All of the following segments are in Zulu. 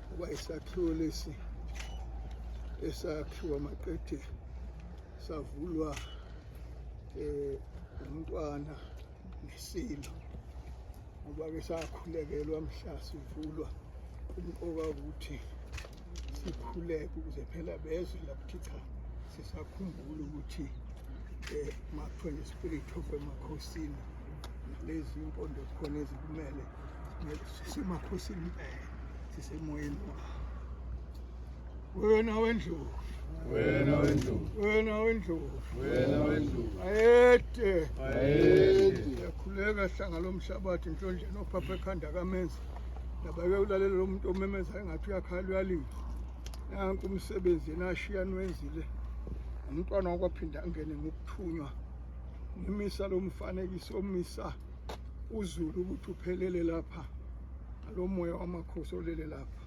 Kuba isakhiwo lesi esakhiwa maqede savulwa eh umntwana nesilo ngoba ke sakhulekelwa mhla sivulwa umqoka ukuthi sikhuleke ukuze phela bezwe lakuthi cha sisakhumbula ukuthi um makuthiwa ne-spirit of emakhosini lezi mpondo zikhona ezikumele sisemakhosini impela sisemoyeni wawo wena wendlovu wena wendlovu wena wendlovu wena wendlovu ayede ayede yakhuleka hlanga lomhlabathi nhlondleni ophapha ekhanda kamenzi Ndabake ulalele lo muntu omemeza engathi uyakhala uyalila. Nanku umsebenzi yena ashiya nwenzile. Umntwana wakwaphinda angene ngokuthunywa. Ngimisa lo mfanekiso omisa uzulu ukuthi uphelele lapha. Lo moya wamakhosi olele lapha.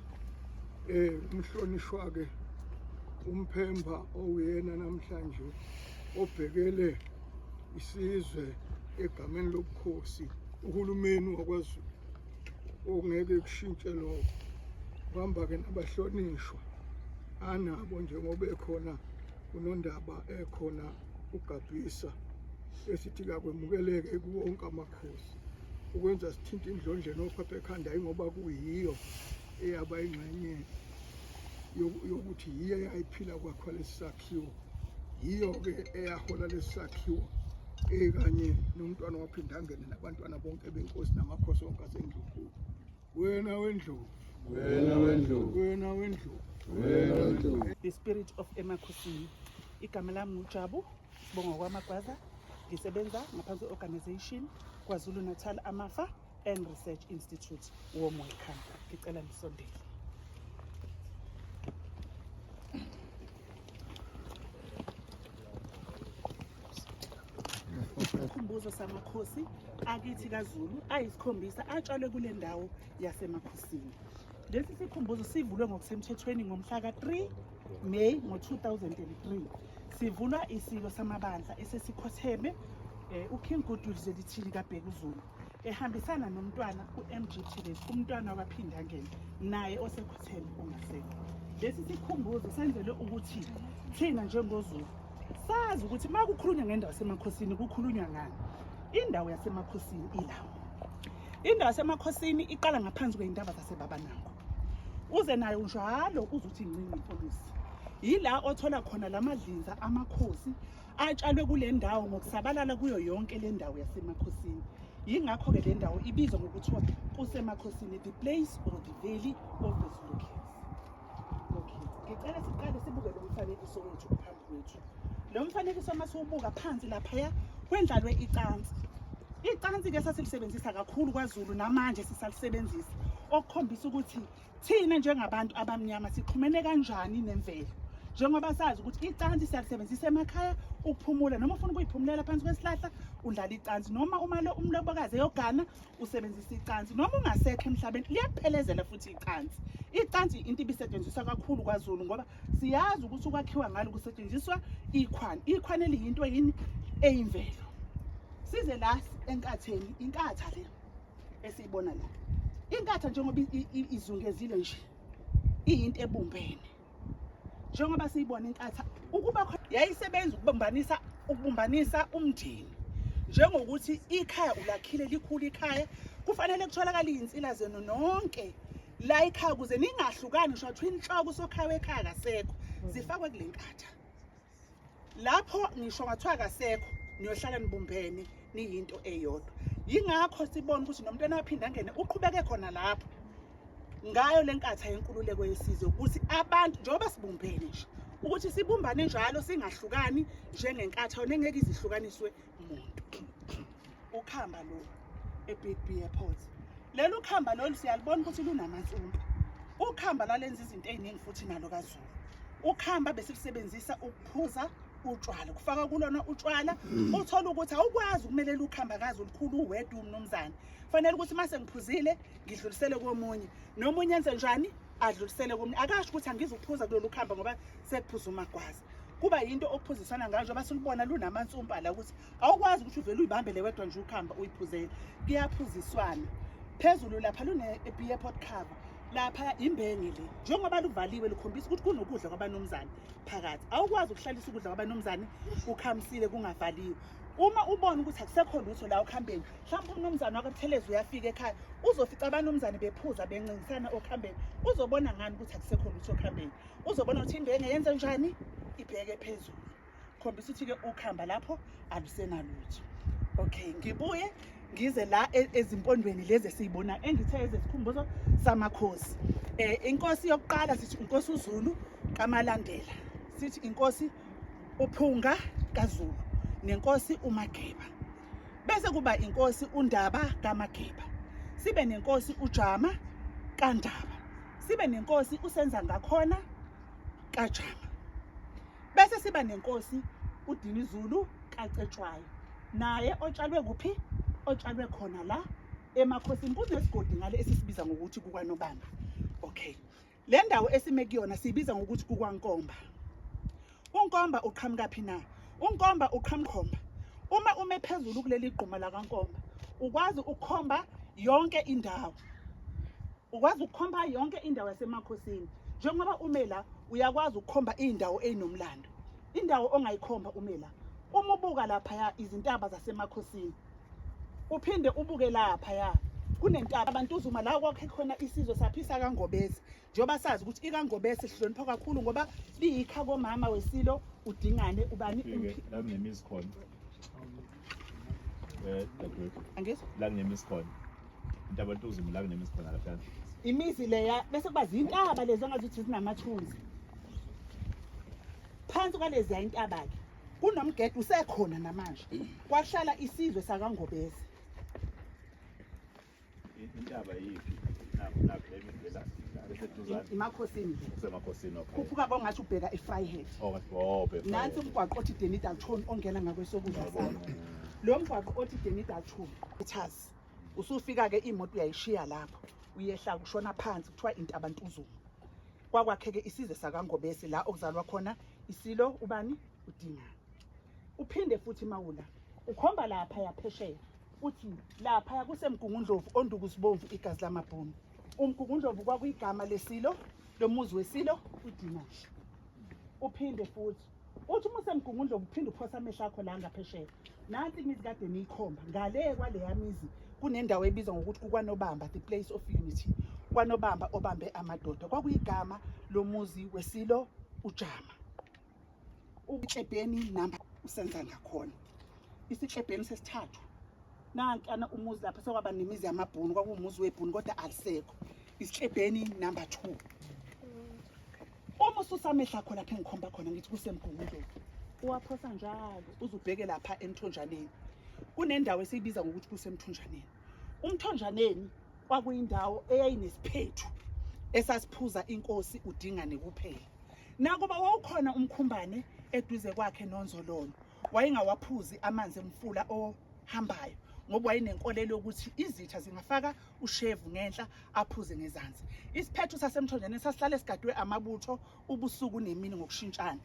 Eh umhlonishwa ke umphemba owuyena namhlanje obhekele isizwe egameni lobukhosi uhulumeni wakwaZulu ungeke kushintshe lokho uhamba-ke nabahlonishwa anabo njengoba ekhona kunondaba ekhona ugabhisa esithi kakwemukeleke kuwonke amakhosi ukwenza sithinta indlondleni ophapha ekhanda yingoba kuyiyo eyaba ingxenye yokuthi yiyo eyayiphila kwakhwalesisakhe sakhiwo yiyo-ke eyahola lesi sakhiwo ekanye nomntwana waphinde angene nabantwana bonke benkosi namakhosi onke asendlunkulu wena wendlovu wena wendlovu wena wendlovu wena wendlovu the spirit of emakhosini igama lami ngujabu sibonga kwamagwaza ngisebenza ngaphansi kwe-organization kwazulu-natal amafa and Research Institute warm welcome ngicela nisondele isikhumbuzo samakhosi akithi kaZulu ayisikhombisa atshalwe kule ndawo yasemakhosini lesi sikhumbuzo sivulwe ngokusemthethweni ngomhla ka-3 May ngo-2003 sivulwa isilo samabandla esesikhotheme um uKing Goodwill Zwelithini kaBhekuzulu ehambisana nomntwana u-mgt lesi umntwana wabaphinde angene naye osekhuthele ongasekho lesi sikhumbuzo senzelwe ukuthi thina njengozulu sazi ukuthi uma kukhulunywa ngendawo yasemakhosini kukhulunywa ngani indawo yasemakhosini ilawo indawo yasemakhosini iqala ngaphansi kwey'ntaba zasebaba nango uze nayo njalo uzuthi ncinci polisi yila othola khona la madlinza amakhosi atshalwe kule ndawo ngokusabalala kuyo yonke le ndawo yasemakhosini yingakho-ke le ndawo ibizwa ngokuthiwa kusemakhosini the place or the valley of the zulukes okay ngicela siqale sibuke lo mfanekiso wethu phambi kwethu lo mfanekiso uma siwubuka phansi laphaya kwendlalwe icansi icansi-ke sasilisebenzisa kakhulu kwazulu namanje sisalisebenzisa okukhombisa ukuthi Thina njengabantu abamnyama sixhumene kanjani nemvelo? Njengoba sazi ukuthi icansi siyalisebenzisa emakhaya ukuphumula noma ufuna ukuyiphumulela phansi kwesihlahla undlala icansi noma uma lo umlobokazi eyogana usebenzisa icansi noma ungasekho emhlabeni liyakuphelezela futhi icansi. Icansi into ibisetshenziswa kakhulu kwaZulu ngoba siyazi ukuthi ukwakhiwa ngalo kusetshenziswa ikhwani. Ikhwani eliyinto yini eyimvelo. Size la enkatheni, inkatha le. esiyibona la inkatha njengoba izungezile nje iyinto ebumbene njengoba siyibona inkatha ukuba yayisebenza ukubambanisa ukubumbanisa umndeni njengokuthi ikhaya ulakhile likhulu ikhaya kufanele kutholakale izinsila zenu nonke la ikhaya kuze ningahlukani ngisho kuthiwa inhloko usokhaya wekhaya kasekho zifakwe kule nkatha lapho ngisho ngathiwa kasekho niyohlala nibumbene niyinto eyodwa yingakho sibona ukuthi nomntwana aphinde angene uqhubeke khona lapho ngayo le nkatha yenkululeko yesizwe ukuthi abantu njengoba sibumbene nje ukuthi sibumbane njalo singahlukani njengenkatha nengeke izihlukaniswe umuntu ukhamba lo eBig B Airport leli ukhamba lolu siyalibona ukuthi lunamantsumba ukhamba lalenza izinto eziningi futhi nalo kaZulu ukhamba besikusebenzisa ukuphuza utshwala kufaka kulona utshwala mm. uthola ukuthi awukwazi ukumelela ukhamba kazi olukhulu uwedwa umnumzane fanele ukuthi mase ngiphuzile ngidlulisele komunye nomunye enze njani adlulisele komunye akasho ukuthi angizukuphuza kulolu khamba ngoba sekuphuza umagwazi kuba yinto okuphuzisana ngayo njengoba silubona lunamansumpa la ukuthi awukwazi ukuthi uvele uyibambele wedwa nje ukuhamba uyiphuzele kuyaphuziswana phezulu lapha lune-beer pot cover lapha imbenge le njengoba luvaliwe likhombisa ukuthi kunokudla kwabanumzane phakathi awukwazi ukuhlalisa ukudla kwabanumzane kukhamisile kungavaliwe uma ubona ukuthi akusekho lutho la okuhambeni mhlawumbe umnumzane wakabuthelezi uyafika ekhaya uzofica abanumzane bephuza bencingisana okuhambeni uzobona ngani ukuthi akusekho lutho okuhambeni uzobona ukuthi into engeyenze njani ibheke phezulu khombisa ukuthi-ke ukhamba lapho alusenalutho okay ngibuye ngize la e, ezimpondweni lezi esiyibona engithe ezesikhumbuzo samakhosi eh inkosi yokuqala sithi inkosi uZulu kaMalandela sithi inkosi uPhunga kaZulu nenkosi uMageba bese kuba inkosi uNdaba kaMageba sibe nenkosi uJama kaNdaba sibe nenkosi usenza ngakhona kaJama bese siba nenkosi uDinizulu kaCetshwayo naye otshalwe kuphi otshalwe khona la emakhosini kunesigodi ngale esisibiza ngokuthi kukanobanga okay Le ndawo esime kuyona siyibiza ngokuthi kukwankomba. Unkomba uqhamuka phi na? Unkomba uqhamukhomba. Uma ume phezulu kuleli gquma lakankomba, ukwazi ukukhomba yonke indawo. Ukwazi ukukhomba yonke indawo yasemakhosini. Njengoba ume la, uyakwazi ukukhomba iy'ndawo ey'nomlando. Indawo ongayikhomba ume la. Uma ubuka laphaya izintaba zasemakhosini. uphinde ubuke lapha ya kunentaba abantu uzuma la kwakhe khona isizwe saphisa kangobese njengoba sazi ukuthi ikangobese sihlonipha kakhulu ngoba liyikha komama wesilo udingane ubani la kunemizi khona eh dadwethu angizwa la kunemizi khona intaba abantu uzuma la kunemizi khona lapha imizi leya bese kuba zintaba lezi angazi ukuthi zinamathunzi phansi kwaleziya intaba-ke kunomgede usekhona namanje kwahlala isizwe sakangobese intaba yiphi imakhosini khuphuka bongathi ubheka efryhead oh, oh, nansi umgwaqo othi denidalton ongena ngakwesokudla salo lo mgwaqo othi denidalton ethas usufika-ke imoto uyayishiya lapho uyehla kushona phansi kuthiwa intabantuzulu kwakwakheke isizwe sakangobese la okuzalwa khona isilo ubani udinga uphinde futhi mawula ukhomba lapha yaphesheya uthi lapha yakusemgungundlovu onduku sibomvu igazi lamabhunu umgungundlovu kwakuyigama lesilo lomuzi wesilo udinasha uphinde futhi Uthi uma usemgungundla uphinde uphosa amehlo akho la ngaphesheya. Nansi imizi kade niyikhomba ngale kwaleya mizi kunendawo ebizwa ngokuthi kukwanobamba the place of unity. Kwanobamba obambe amadoda kwakuyigama lomuzi wesilo uJama. Uklebheni namba usenza ngakhona. Isiklebheni sesithathu. Nankana umuzi lapha sekwaba nemizi yamabhunu kwakuwumuzi webhunu kodwa alisekho. isihlebheni number two uma ususa amehla akho lapha engikhomba khona ngithi kusemgungundlovu uwaphosa njalo uzubheke lapha emthonjaneni kunendawo esiyibiza ngokuthi kusemthonjaneni umthonjaneni kwakuyindawo eyayinesiphethu esasiphuza inkosi udingane kuphela nakuba wawukhona umkhumbane eduze kwakhe nonzololo wayengawaphuzi amanzi emfula ohambayo ngoba wayenenkolelo yokuthi izitha zingafaka ushevu ngenhla aphuze ngezansi isiphetho sasemthonjeni sasihlale sigadwe amabutho ubusuku nemini ngokushintshana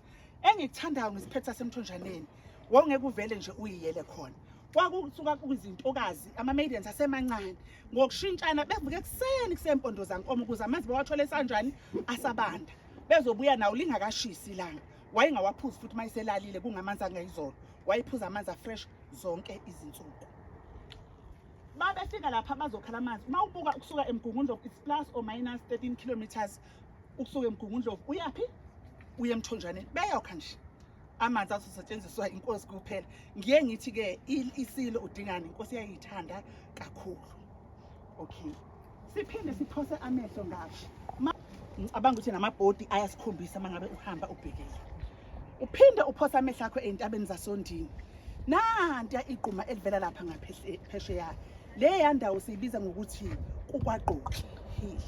engikuthandayo ngesiphetho sasemthonjaneni wawungeke uvele nje uyiyele khona kwakusuka kwizintokazi ama-maidens asemancane ngokushintshana bevuke ekuseni kusempondozankomo ukuze amanzi bawathole esanjani asabanda bezobuya nawo lingakashisi ilanga wayengawaphuzi futhi uma eselalile kungamanzi angayizolo wayephuza amanzi afresh zonke izinsuku babefika lapha bazokhala amanzi uma ubuka ukusuka emgungundlovu it's plus or minus 13 kilometers ukusuka emgungundlovu uyaphi uye emthonjaneni beyokha nje amanzi azosetshenziswa inkosi kuphela ngiye ngithi-ke isilo udingani inkosi yayiyithanda kakhulu okay siphinde siphose amehlo ngasho ngicabanga ukuthi namabhodi ayasikhombisa uma ngabe uhamba ubhekile uphinde uphose amehlo akho ey'ntabeni zasondini nantiya igquma elivela lapha ngaphesheya le yandawo siyibiza ngokuthi kukwagqoki hill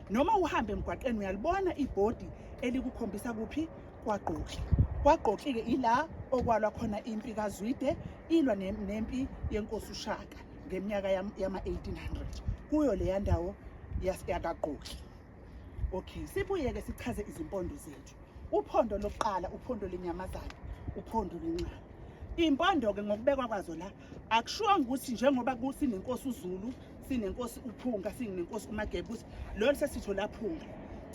noma uhambe emgwaqeni uyalibona ibhodi elikukhombisa kuphi kwagqoki kwagqoki-ke ila okwalwa khona impi kazwide ilwa nempi yenkosi ushaka ngeminyaka yama-1800 kuyo leya ndawo yakagqoki okay sibuye-ke sichaze izimpondo zethu uphondo lokuqala uphondo lenyamazane uphondo lwencane iy'mpondo-ke ngokubekwa kwazo la akushiwanga ukuthi njengoba sinenkosi uzulu sinenkosi uphunga sinenkosi umagebusi lolo sesitho laphunga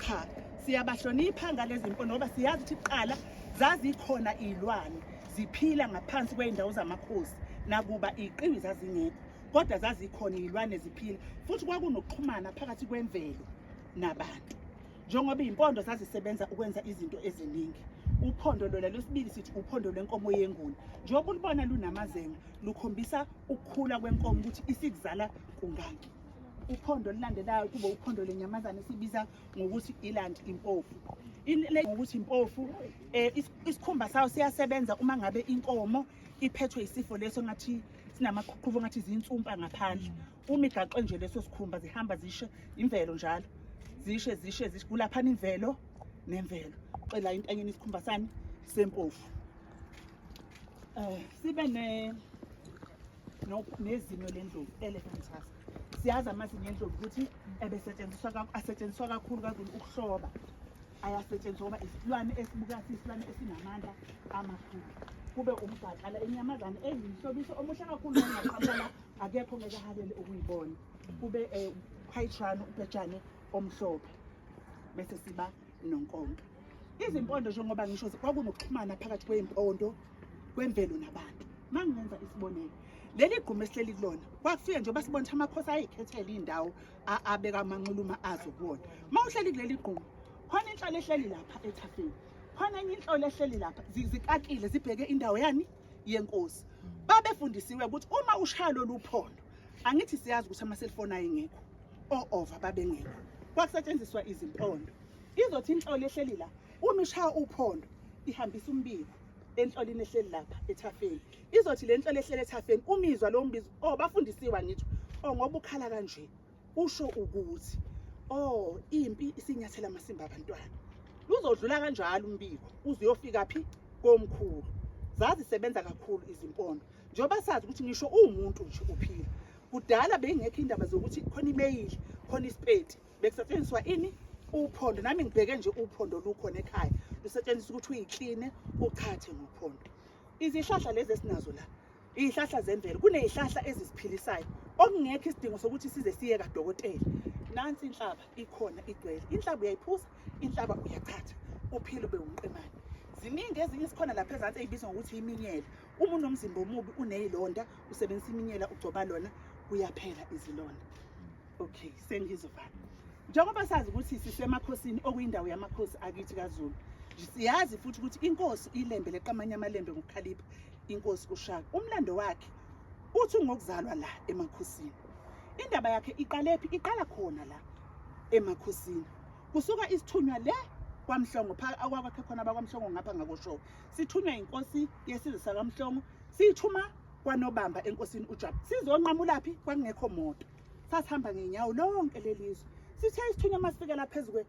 cha siyabahlonipha ngalezi mpondo ngoba siyazi ukuthi kuqala zazikhona iy'lwane ziphila ngaphansi kwey'ndawo zamakhosi nakuba iy'qiwi zazingekho kodwa zazikhona iy'lwane ziphila futhi kwakunokuxhumana phakathi kwemvelo nabantu njengoba iy'mpondo zazisebenza ukwenza izinto eziningi uphondo lona lwesibili sithi uphondo lwenkomo yenguni njengoba ulibona lunamazenga lukhombisa ukukhula kwenkomo ukuthi isikuzala kungaki uphondo olulandelayo kube uphondo lenyamazane esibiza ngokuthi iland impofu ngokuthi impofu Eh isikhumba sawo siyasebenza uma ngabe inkomo iphethwe isifo leso ngathi sinamaqhuqhubo ngathi zinsumpa ngaphandle. Uma igaxwe nje leso sikhumba zihamba zishe imvelo njalo. Zishe zishe zikulaphana imvelo nemvelo. Cela intanyeni isikhumba sani sempofu. Eh sibe ne nezinyo lendlovu elephant tusk siyazi amazinyo endlovu ukuthi ebesetshenziswa asetshenziswa kakhulu kazulu ukuhloba ayasetshenziswa ngoba isilwane esibuka siyisilwane esinamandla amakhulu kube umgaqala inyamazane eyinhlobiso omuhle kakhulu ongaqabala akekho ngeke ahalele ukuyibona kube um eh, khayitshwana ubhetshane omhlophe bese siba nonkonka izimpondo njengoba ngisho kwakunokuxhumana phakathi kweyimpondo kwemvelo nabantu uma ngenza isibonelo leli gquma esihleli kulona kwakufike nje basibona ukuthi amakhosi ayikhethele iy'ndawo abeka amanxuluma azo kuwona uma uhleli kuleli gquma khona inhlolo ehleli lapha ethafeni khona enye inhlolo ehleli lapha zikakile zibheke indawo yani yenkosi babefundisiwe ukuthi uma ushaya lolu phondo angithi siyazi ukuthi amaselfoni ayengekho o-ova babengekho kwakusetshenziswa izimpondo izothi inhlolo ehleli la uma ishaya uphondo ihambisa umbiko enhlolini ehleli lapha ethafeni izothi le nhlolo ehleli ethafeni umizwa lo mbizo oh bafundisiwa ngitho oh ngoba ukhala kanje usho ukuthi oh impi isinyathela amasimba abantwana luzodlula kanjalo umbiko uzuyofika phi komkhulu zazisebenza kakhulu izimpondo njengoba sazi ukuthi ngisho uwumuntu nje uphila kudala beyingekho indaba zokuthi khona imeyili khona isipeti bekusetshenziswa ini uphondo nami ngibheke nje uphondo lukhona ekhaya lusetshenziswa ukuthi uyikline uchathe ngophondo izihlahla lezi esinazo la izihlahla zemvelo kunezihlahla ezisiphilisayo okungekho isidingo sokuthi size siye kadokotela nansi inhlaba ikhona igcwele inhlaba uyayiphuza inhlaba uyachatha uphile ube umqemane ziningi ezinye sikhona lapha ezansi eyibizwa ngokuthi iminyela uma unomzimba omubi uneyilonda usebenzisa iminyela ugcoba lona kuyaphela izilonda Okay, sengizovala. Njengoba sazi ukuthi sisemakhosini okuyindawo yamakhosi akithi kaZulu. Siyazi futhi ukuthi inkosi ilembe leqamanye amalembe ngokukhalipha inkosi uShaka. Umlando wakhe uthi ngokuzalwa la emakhosini. Indaba yakhe iqale phi? Iqala khona la emakhosini. Kusuka isithunywa le kwaMhlongo phaka akwakhe khona bakwaMhlongo ngapha ngakosho. Sithunywa inkosi yesizwe sakaMhlongo, siyithuma kwanobamba enkosini uJabu. Sizonqamulaphi kwakungekho moto. sasihamba ngenyawo lonke lelizwe sithe isithunywa masifikela phezulu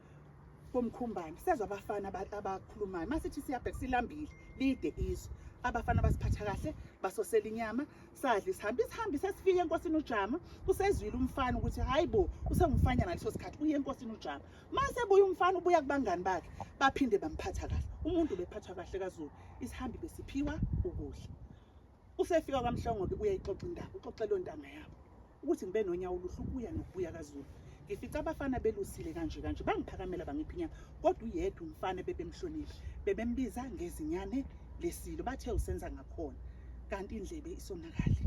komkhumbane sezwa abafana abakhulumayo masithi siyabheka silambile lide izwe abafana basiphatha kahle basosela inyama sadla isihambi isihambi sesifike enkosini ujama usezwile umfana ukuthi hayi bo usengumfanya ngaleso sikhathi uye enkosini ujama mase buya umfana ubuya kubangani bakhe baphinde bamphatha kahle umuntu bephathwa kahle kazulu isihambi besiphiwa ukudla Usefika kwaMhlongo-ke uyayixoxa indaba, uxoxela ontanga yabo ukuthi ngibe nonyawo oluhle ukuya nokubuya kaZulu. Ngifica abafana belusile kanje kanje, bangiphakamela bangipha inyama, kodwa uyedwa umfana bebemhlonile, bebembiza ngezinyane lesilo, bathe usenza ngakhona, kanti indlebe isonakale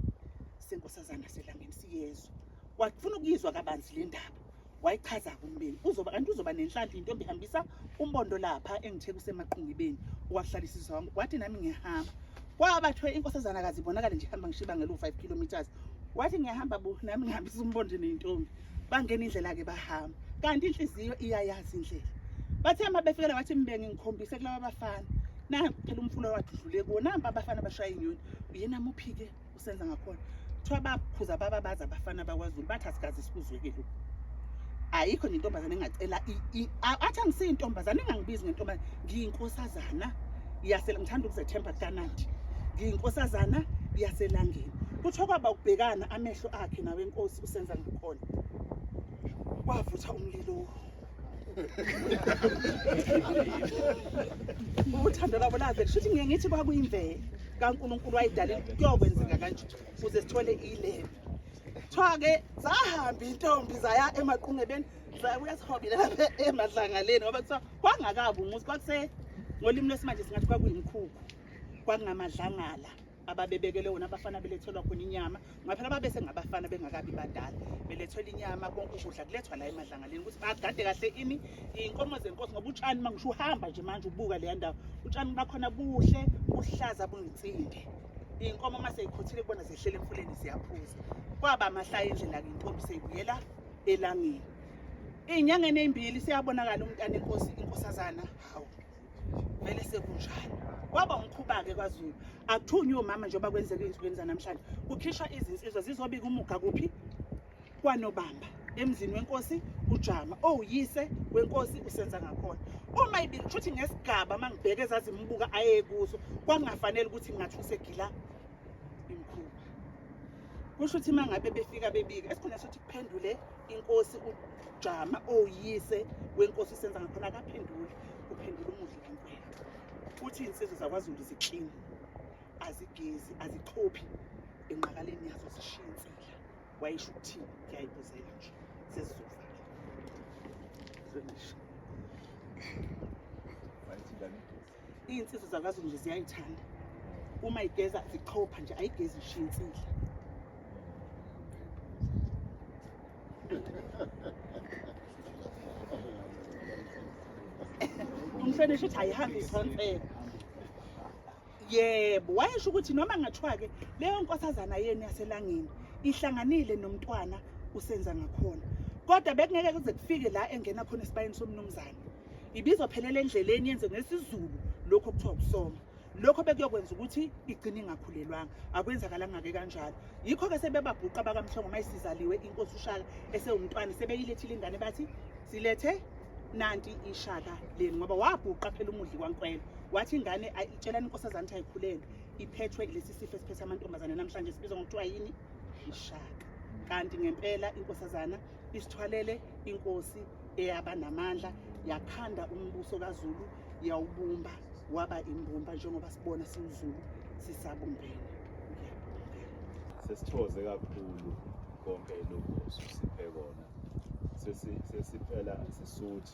senkosazana selangeni siyezwa. Wafuna ukuyizwa kabanzi le ndaba, wayichaza kumbeni uzoba kanti uzoba nenhlanhla intombi ihambisa umbondo lapha engithe kusemaqungibeni wakuhlalisisa wami wathi nami ngiyahamba kwabathiwe inkosazana kazi ibonakale nje ihamba ngishiba ngelo-5 kilometers wathi ngiyahamba bo nami ngihambisa umbondo nentombi bangena indlela-ke bahamba kanti inhliziyo iyayazi indlela bathe uma befikela wathi mbenge ngikhombise kulaba bafana na phela umfula wadlule kuwo nampa abafana bashaya inyoni uyena muphike senza ngakhona kuthiwa bakhuza baba bazi abafana bakwazulu bathi asikaze sikuzweke lokhu ayikho nentombazane engacela athi angisiyi intombazane engangibizi ngentombazane ngiyinkosazana yasela ngithanda ukuzethemba kukanandi ngiyinkosazana yaselangeni kuthiwa kwaba ukubhekana amehlo akhe nawenkosi usenza ngakhona kwavutha umlilo uthando lwabo laze kusho ukuthi ngiye ngithi kwakuyimvelo kankulunkulu wayidalile kuyokwenzeka kanje ukuze sithole ilelo kuthiwa-ke zahamba intombi zaya emaqungebeni zabuya sihobile lapha emadlangaleni ngoba kuthiwa kwangakabi umuzi kwakuse ngolimi lwesimanje singathi kwakuyimkhukhu kwakungamadlangala ababebekele wona abafana belethelwa khona inyama ngoba phela babese ngabafana bengakabi badala belethelwa inyama konke ukudla kulethwa la emadlangaleni ukuthi bagade kahle ini iy'nkomo zenkosi ngoba utshani uma ngisho uhamba nje manje ubuka leya ndawo utshani bakhona buhle buhlaza buyinsimbi iy'nkomo uma seyikhuthile kubona zehlele emfuleni ziyaphuza kwaba amahlaya indlela ke intombi seyibuyela elangeni ey'nyangeni ey'mbili seyabonakala umntana inkosi inkosazana hawu vele sekunjalo kwaba umkhuba-ke kwazulu akuthunywe omama njengoba kwenzeka ezinsukwini zanamhlanje kukhishwa izinsizwa zizobika umuga kuphi kwanobamba emzini wenkosi ujama owuyise oh, wenkosi usenza ngakhona uma ibili kusho ukuthi ngesigaba uma ngibheke ezazimbuka aye kuso kwakungafanele ukuthi ngingathi usegila imkhuba kusho ukuthi uma ngabe befika bebika esikhona sokuthi kuphendule inkosi ujama oyise wenkosi isenza ngakhona akaphenduli uphendula umudli kankulu futhi insizwe zakwazulu ziklini azigezi azichophi enqakaleni yazo zishiye insila wayisho ukuthini ngiyayibuzela nje sesizovala Iy'nsizwa zakwaZulu nje ziyayithanda uma igeza zichopha nje ayigezi ishiya insila umhlonishwa ukuthi ayihambi isonsela yebo wayesho ukuthi noma ngathiwa-ke leyo nkosazana yenu yaselangeni ihlanganile nomntwana usenza ngakhona kodwa bekungeke kuze kufike la engena khona esibayeni somnumzane ibizophelela endleleni yenze ngesizulu lokho kuthiwa ukusoma lokho bekuyokwenza ukuthi igcine ingakhulelwanga akwenzakalanga-ke kanjalo yikho-ke sebebabhuqa bakamhlongo uma isizaliwe inkosi ushaka esewumntwana sebeyilethile ingane bathi silethe nanti ishaka leni ngoba wabhuqa phela umudli kwankwelo wathi ingane itshelani inkosazane ukuthi ayikhulelwe iphethwe lesi sifo esiphethe amantombazane namhlanje sibizwa ngokuthiwa yini ishaka kanti ngempela inkosazana isithwalele inkosi eyaba namandla yakhanda umbuso kaZulu yawubumba waba imbumba njengoba sibona siwuZulu sisabumbene sesithoze kakhulu konke lokho sisiphe kona sesiphela sisuthi